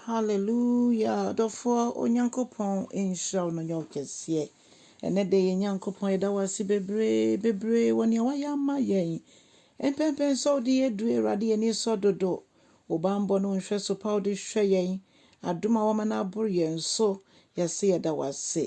Hallelujah adɔfoɔ Onyankopɔn nhyira wo na ɔnyɛ wo kɛseɛ ɛnɛ da yɛ Nyankopɔn yɛda wo ase bebree bebree wɔ nea wayɛ ama yɛn mpɛmpɛn sɛ wode yɛ duru Awurade yɛn ani sɔ dodo wo bammɔ ne wo nhwɛso pa wode hwɛ yɛn adom a wama no aboro yɛn so yɛse yɛda wo ase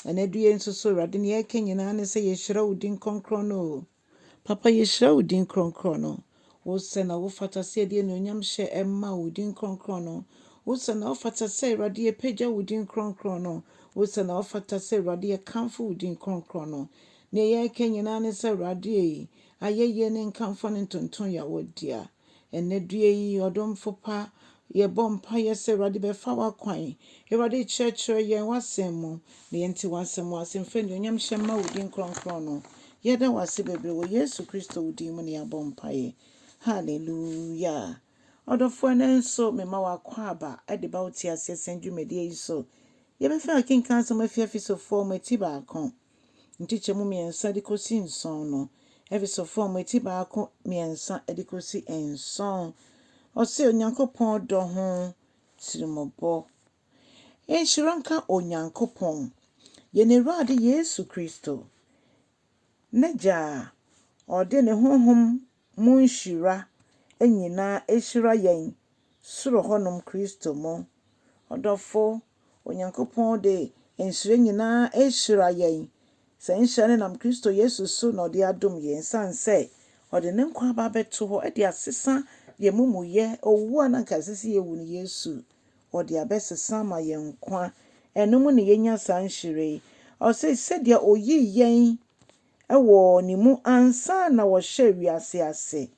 ɛnɛ du yɛ nso so Awurade nea yɛka nyinaa ne sɛ yɛhyira wo din kronkron no Papa yɛhyira wo din krɔnkrɔn no, wo sɛ na wo fata sɛ yɛde anuonyam hyɛ ɛmma wo din krɔnkrɔn no, wo sɛ na wo fata sɛ Awurade yɛpagya wo din krɔnkrɔn no, wo sɛ na wo fata sɛ Awurade yɛkamfo wo din krɔnkrɔn no. Neɛ yɛreka nyinaa ne sɛ Awurade ei, ayɛyie ne nkamfoɔ ne ntonton yɛ wo dea. Ɛnnɛ due yi, ɔdomfo pa, yɛbɔ mpaeɛ sɛ Awurade bɛfa w'akwan. Awurade kyerɛkyerɛ yɛn w'asɛm mu na yɛnte w'asɛm ase mfa anuonyam hyɛ mma wo din kronkron no. Yɛda wo ase bebree wɔ Yesu Kristo wo din mu na yɛabɔ mpaeɛ. Hallelujah. Ɔdɔfoɔ ɛnnɛ nso mema wo akwaaba de ba wo teaseɛ sɛn dwumadie yi so. Yɛbɛfa akenkan asɛm afi Efesofoɔ mu eti baako. nkyekyɛmu mmiɛnsa de kɔsi nson no. Efeso fam eti baako mmiɛnsa de kɔsi nson. Ɔse Onyankopɔn dɔ ho tirimɔbɔ. Nhyira nka Onyankopɔn, yɛn Awurade Yesu Kristo, n'Agya a ɔde ne honhom mu nhyira nyinaa ahyira yɛn soro hɔnom Kristo mu. Ɔdɔfo, Onyankopɔn de nhyira nyinaa ahyira yɛn. Saa nhyira no nam Kristo Yesu so na ɔde adom yɛn esiane sɛ ɔde ne nkwa aba abɛto hɔ de asesa yɛn amumuyɛ, owu a na anka ɛsɛ sɛ yewu no Yesu ɔde abɛsesa ama yɛn nkwa. Ɛno mu na yɛanya saa nhyira yi. Ɔse, sɛdeɛ ɔyii yɛn wɔ ne mu ansa na wɔhyɛɛ wiase ase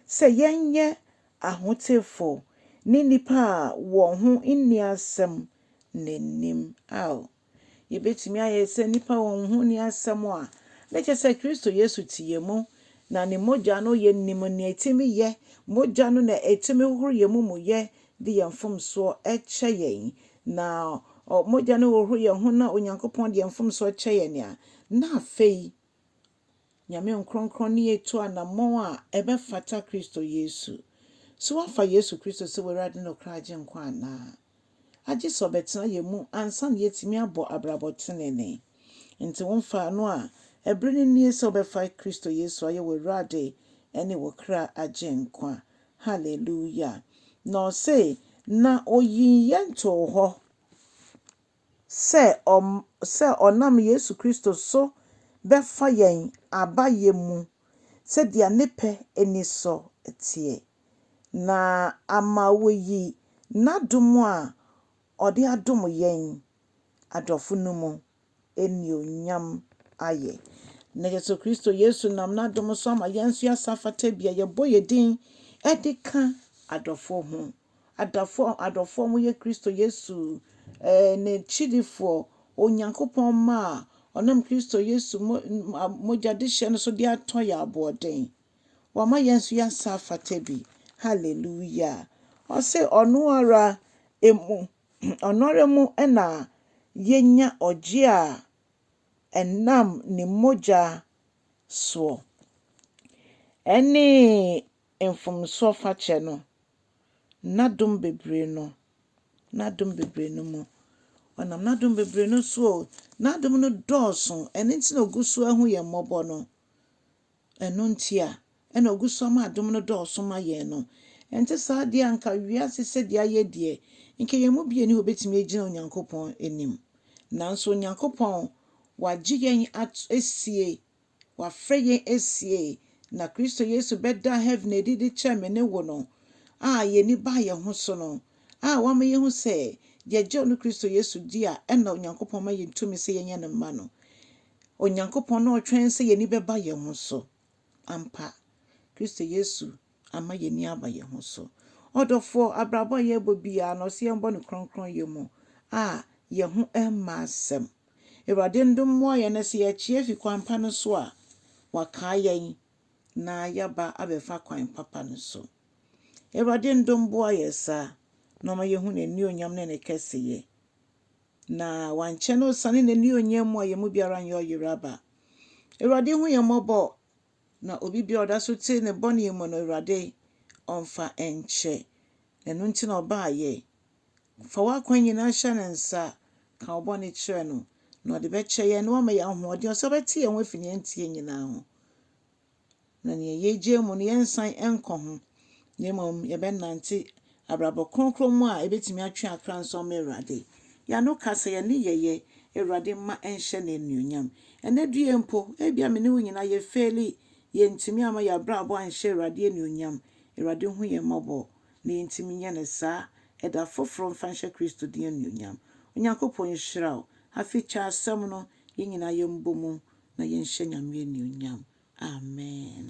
sɛ yɛnyɛ ahotefo ne nnipa a wɔn ho nni asɛm n'anim. Ao, yebetumi ayɛ sɛ nnipa a wɔn ho nni asɛm a na kyerɛ sɛ Kristo Yesu te yɛn mu, na ne mogya no yɛ nim nea etumi yɛ, mogya no na etumi hohoro yɛn amumɔyɛ de yɛn mfomsoɔ kyɛ yɛn, na mogya no hohoro yɛn ho na Onyankopɔn de yɛn mfomsoɔ kyɛ yɛn a, na afei Nyame Nkronkron ne yɛn tu anammɔn a ɛbɛfata Kristo Yesu. So woafa Yesu Kristo sɛ w'Awurade ne ɔkra Agyenkwa anaa? Agye sɛ ɔbɛtena yɛn mu ansa na yɛatumi abɔ abrabɔ tenenee. Nti womfaa no a, ɛberɛ no nie sɛ wobɛfa Kristo Yesu ayɛ w'Awurade ne wo kra Agyenkwa. Hallelujah! Na ɔse, Na oyii yɛn too hɔ sɛ ɔm sɛ ɔnam Yesu Kristo so bɛfa yɛn aba yɛn mu sɛdeɛ Ne pɛ anisɔ teɛ, na ama wayi N'adom a Ɔde adom yɛn adɔfo no mu. anuonyam ayɛ. Na yɛsrɛ Kristo Yesu nam n'adom so ama yɛn nso yɛasa afata bi a yɛbɔ yɛn din de ka adɔfoɔ ho, adɔfoɔ, adɔfoɔ a wɔyɛ Kristo Yesu eh, n'akyidifoɔ, Onyankopɔn mma a ɔnam Kristo Yesu mo, mogyadehyɛ no so de atɔ yɛn aboɔden. Wama yɛn nso yɛasa afata bi. Hallelujah. Ɔse ɔno ara emu Ɔnoara mu na yenya ɔgye a ɛnam ne mogya soɔ. Ɛne mfomsoɔ fakyɛ no, n'adom bebree no, n'adom bebree no mu. Ɔnam n'adom bebree no so o, n'adom no dɔɔso, ɛno nti na ɔgu so ahu yɛn mmɔbɔ no. Ɛno nti a ɛna ogu so ama adom no dɔɔso ma yɛn no. Ɛnte saa deɛ a, anka wiase sɛdeɛ ayɛ deɛ, anka yɛn mu bi nni hɔ a ɔbɛtumi agyina Onyankopɔn anim. Nanso Onyankopɔn, wagye yɛn ato asie, wafrɛ yɛn asie, na Kristo Yesu bɛdaa heaven adi de kyerɛɛ me ne wo no, a yɛn ani baa yɛn ho so no, a wama yɛahu sɛ, yɛgye ɔno Kristo Yesu di a, ɛna Onyankopɔn ma yɛn tumi sɛ yɛnyɛ ne mma no. Onyankopɔn na ɔtwɛn sɛ yɛn ani bɛba yɛn ho so. Ampa, Kristo Yesu ama yɛn ani aba yɛn ho so. Ɔdɔfoɔ, abrabɔ a yɛrebɔ biara no, ɔse yɛmbɔ no krɔnkrɔnyɛ mu a yɛn ho mma asɛm. Awurade ndom mmoa yɛn na sɛ yɛakyi afi kwan pa no so a, wakae yɛn na yɛaba abɛfa kwan papa no so. Awurade ndom boa yɛn saa na ɔma yɛhu n'anuonyam ne ne kɛseyɛ. Na wankyɛ na ɔsiane n'anuonyam mu a yɛn mu biara nyɛ ɔyere aba. Awurade hu yɛn mmɔbɔ, na obi biara ɔda so te ne bɔne mu no, Awurade ɔmfa nkyɛ. Na ɛno nti na ɔbaeɛ. Fa w'akwan nyinaa hyɛ ne nsa, ka wo bɔne kyerɛ no, na ɔde bɛkyɛ yɛn na wama yɛn ahoɔden, ɔsɛ ɔbɛte yɛn ho afi nea ɛnteɛ nyinaa ho. Na nea yegyae mu no, yɛrensan nkɔ ho, na mmom yɛbɛnante abrabɔ kronkron mu a ebetumi atwe akra nso ama Awurade. Yɛn ano kasa, yɛn nneyɛe, Awurade mma ɛnhyɛ no anuonyam. Ɛnnɛ due mpo, ebia me ne wo nyinaa yɛfeeli, yɛantumi amma yɛn abrabɔ anhyɛ Awurade anuonyam. Awurade hu yɛn mmɔbɔ, na yentumi nyɛ no saa. Ɛda foforo mfa nhyɛ Kristo din anuonyam. Onyankopɔn nhyira wo. Afei kyɛ asɛm no, yɛn nyinaa yɛmbɔ mu na yɛnhyɛ Nyame anuonyam. Amen.